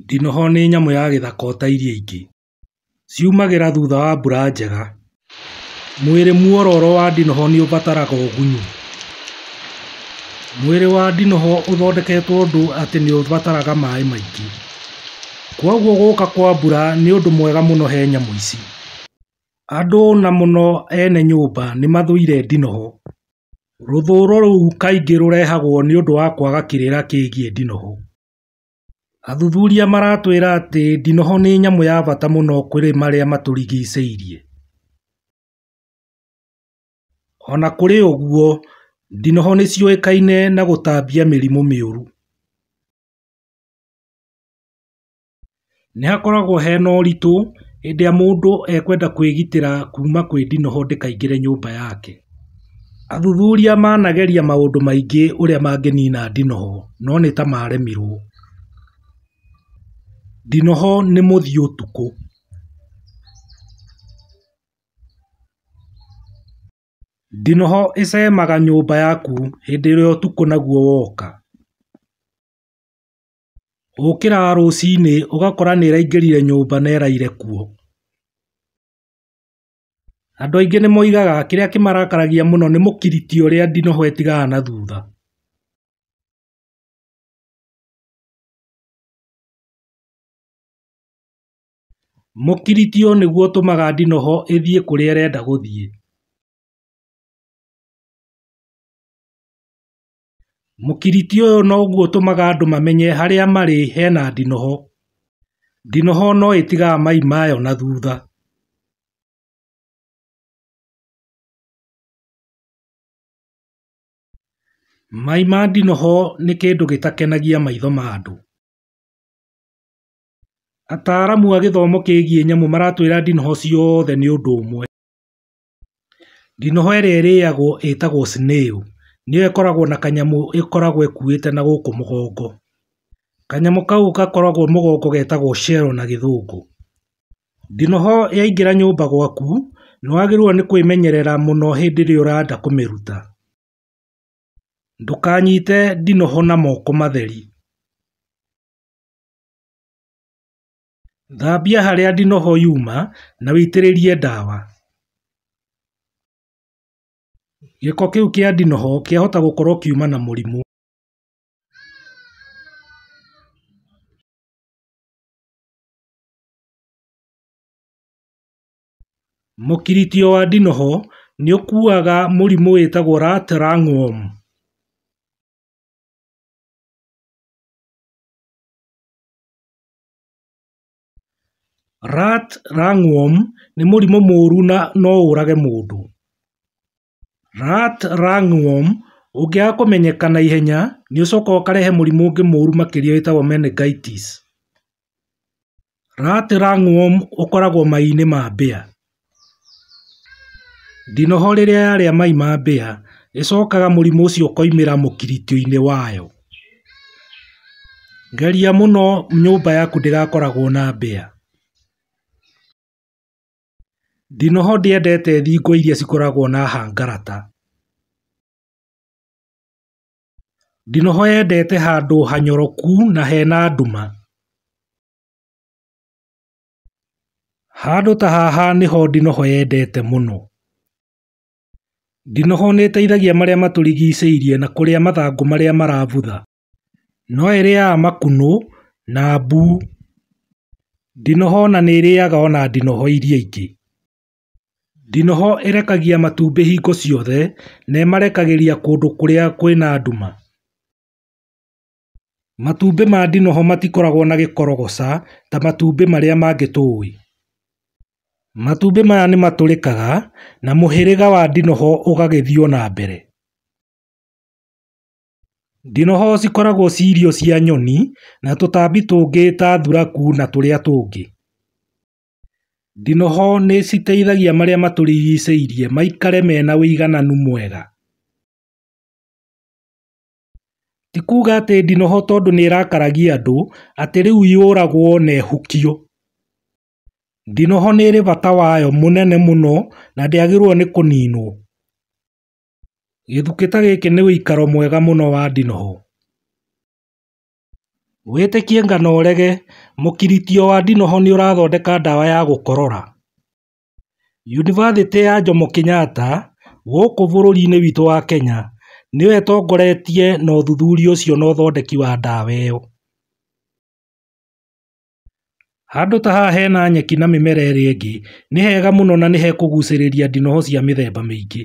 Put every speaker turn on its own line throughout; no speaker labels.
Ndinoho nĩ nyamũ ya gĩthaka ota iria ingĩ. Ciumagĩra thutha wa mbura njega. Mwĩrĩ muororo wa ndinoho nĩ ũbataraga ũgunyu. Mwĩrĩ wa ndinoho ũthondeketwo ũndũ atĩ nĩ ũbataraga maĩ maingĩ. Kwoguo gũka kwa mbura nĩ ũndũ mwega mũno he nyamũ ici. Andũ na mũno ene nyũmba nĩ mathũire ndinoho. Rũthũro rũu kaingĩ rũrehagwo nĩ ũndũ wa kwaga kĩrĩra kĩgiĩ ndinoho. Athuthuria maratwĩra atĩ ndinoho nĩ nyamũ ya bata mũno kũrĩ marĩa matũrigicĩirie. O na kũrĩ ũguo, ndinoho nĩ ciũĩkaine na gũtambia mĩrimũ mĩũru. Nĩ hakoragwo hena ũritũ hĩndĩ ĩrĩa mũndũ ekwenda kwĩgitĩra kuma kwĩ ndinoho ndĩkaingĩre nyũmba yake. Athuthuria manageria maũndũ maingĩ ũrĩa mangĩnina ndinoho no nĩtamaremirwo. Ndinoho nĩ mũthii ũtukũ. Ndinoho ĩcemaga nyũmba yaku hĩndĩ ĩrĩa ũtukũ naguo woka. Ũkĩraga rũcinĩ ũgakora nĩĩraingĩrire nyũmba na ĩraire kuo. Andũ aingĩ nĩmoigaga kĩrĩa kĩmarakaragia mũno nĩ mũkiriti ũrĩa ndinoho ĩtigaga na thutha. Mũkiriti ũyũ nĩguo ũtũmaga ndinoho ĩthiĩ kũrĩa ĩrenda gũthiĩ. Mũkiriti ũyũ noguo ũtũmaga andũ mamenye harĩa marĩ hena ndinoho. Ndinoho no ĩtigaga mai mayo na thutha. Mai ma ndinoho nĩ kĩndũ gĩtakenagia maitho ma andũ. Ataaramu a gĩthomo kĩgiĩ nyamũ maratwĩra ndinoho ciothe nĩ ũndũ ũmwe. Ndinoho ĩrĩa ĩrĩagwo ĩtagwo snail nĩyo ĩkoragwo na kanyamũ ĩkoragwo ĩkuĩte na gũkũ mũgongo. Kanyamũ kau gakoragwo mũgongo getagwo shell na gĩthũngũ. Ndinoho yaingĩra nyũmba gwaku nĩwagĩrĩirwo nĩ kwĩmenyerera mũno hĩndĩ ĩrĩa ũrenda kũmĩruta. Ndũkanyite ndinoho na moko matheri. Thambia harĩa ndinoho yuma na wĩitĩrĩlie dawa. Gĩko kĩu kĩa ndinoho kĩahota gũkorwo kiuma na mũrimũ. Mũkiritio wa ndinoho nĩũkuaga mũrimũ wĩtagwo rat rungworm. Rat ringworm nĩ mũrimũ mũũru na no ũrage mũndũ. Rat ringworm ũngĩaga kũmenyeka na ihenya nĩ ũcokaga ũkarehe mũrimũ ũngĩ mũũru makĩria wĩtagwo meningitis. Rat ringworm ũkoragwo mai-inĩ ma mbĩa. Ndinoho rĩrĩa yarĩa mai ma mbĩya, ĩcokaga mũrimũ ũcio ũkoimĩra mũkiritioinĩ wayo. Geria mũno nyũmba yaku ndĩgakoragwo na mbĩya. Ndinoho ndĩendete thingo iria cikoragwo na hangarata. Ndinoho yendete handũ hanyoroku na hena nduma. Handũ ta haha nĩho ndinoho yendete mũno. Ndinoho nĩ ĩteithagia marĩa matũrigicĩirie na kũrĩa mathangũ marĩa marabutha. No ĩrĩaga makunũ na mbu. Ndinoho ona nĩ ĩrĩaga ona ndinoho iria ingĩ. Ndinoho ĩrekagia matumbĩ hingo ciothe na ĩmarekagĩria kũndũ kũrĩa kwĩna nduma. Matumbĩ ma ndinoho matikoragwo na gĩkorogoca ta matumbĩ marĩa mangĩ tũĩ. Matumbĩ maya nĩ matũrĩkaga na mũhĩrĩga wa ndinoho ũgagĩthiĩ o na mbere. Ndinoho cikoragwo ci irio cia nyoni na tũtambi tũngĩ ta thuraku na tũrĩa tũngĩ. Ndinoho nĩ citeithagia marĩa matũrigicĩirie maikare mena ũigananu mwega. Ti kuuga atĩ ndinoho tondũ nĩrakaragia andũ atĩ rĩu yũragwo na ĩhukio. Ndinoho nĩrĩ bata wayo mũnene mũno na ndĩagĩrĩirwo nĩ kũninwo. Gĩthukĩ ta gĩkĩ nĩ ũikaro mwega mũno wa ndinoho. Wĩtĩkie ngano ũrege, mũkiritio wa ndinoho nĩũrathondeka ndawa ya gũkorora. Yunibathĩtĩ ya Jomo Kenyatta gũkũ bũrũri-inĩ witũ wa Kenya nĩyo ĩtongoretie na ũthuthuria ũcio na ũthondeki wa ndawa ĩyo. Handũ ta haha hena nyeki na mĩmera ĩrĩa ĩngĩ, nĩ hega mũno na nĩ hekũgucĩrĩria ndinoho cia mĩthemba mĩingĩ.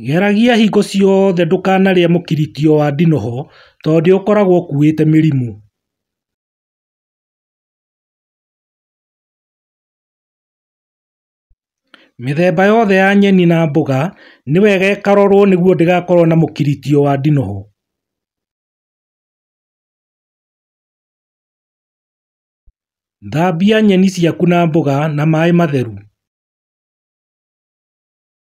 Geragia hingo ciothe ndũkanarĩe mũkiritio wa ndinoho tondũ nĩ ũkoragwo ũkuĩte mĩrimũ. Mĩthemba yothe ya nyeni na mboga nĩ wega ĩkarorwo nĩguo ndĩgakorwo na mũkiritio wa ndinoho. Thambia nyeni ciaku na mboga na maĩ matheru.